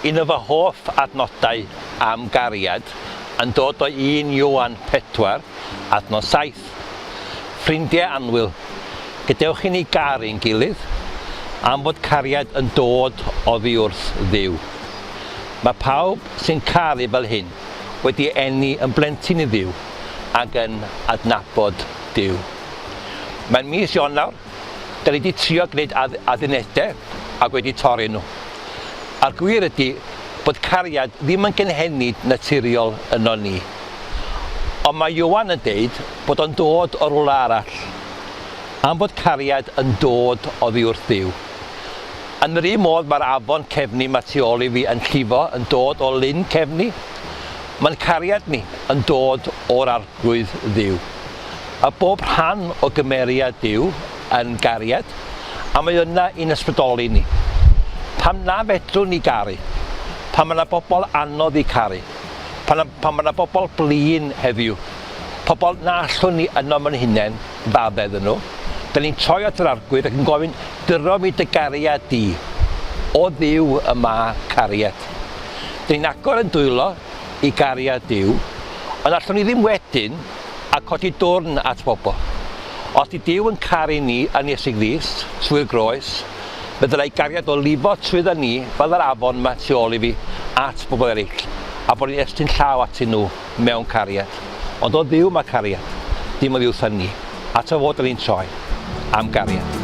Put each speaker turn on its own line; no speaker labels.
Un o fy hoff adnodau am gariad yn dod o un Ioan 4, adnod 7. Ffrindiau annwyl, gadewch i ni garu ein gilydd, am fod cariad yn dod oddi wrth Dduw. Mae pawb sy'n caru fel hyn wedi eni yn blentyn i Dduw ac yn adnabod Duw. Mae'n mis Ionawr, da ni wedi trio gwneud add addunedau ac wedi torri nhw. A'r gwir ydy bod cariad ddim yn gynhenid naturiol yno ni. Ond mae Ioan yn deud bod o'n dod o rywle arall. Am bod cariad yn dod oddi wrth Dduw. Yn yr un modd mae'r afon cefni mae tu ôl i fi yn llifo yn dod o lyn cefni. Mae'n cariad ni yn dod o'r Arglwydd Dduw. Mae bob rhan o gymeriad Duw yn gariad a mae yna i'n ysbrydoli ni. Pam na fedrwn ni garu? Pan mae yna bobl anodd i caru? Pan, pan mae yna bobl blin heddiw? Pobl na allwn ni ynom yn hunain? fab edd nhw. Da ni'n troi at yr arglwydd ac yn gofyn, Dyro mi dy gariad di, O Dduw y ma cariad. Da ni'n agor yn dwylo i gariad Duw, ond allwn ni ddim wedyn a codi dwrn at bobl. Os di Duw yn caru ni yn Iesu Grist, trwy'r groes, fe ddylai gariad o lifo trwydda ni fel yr afon ma tu ol i fi at bobl eraill, a bod ni'n estyn llaw atyn nhw. mewn cariad. Ond o Dduw mae cariad, dim oddi wrthon ni, at o fod yr un tro, am gariad.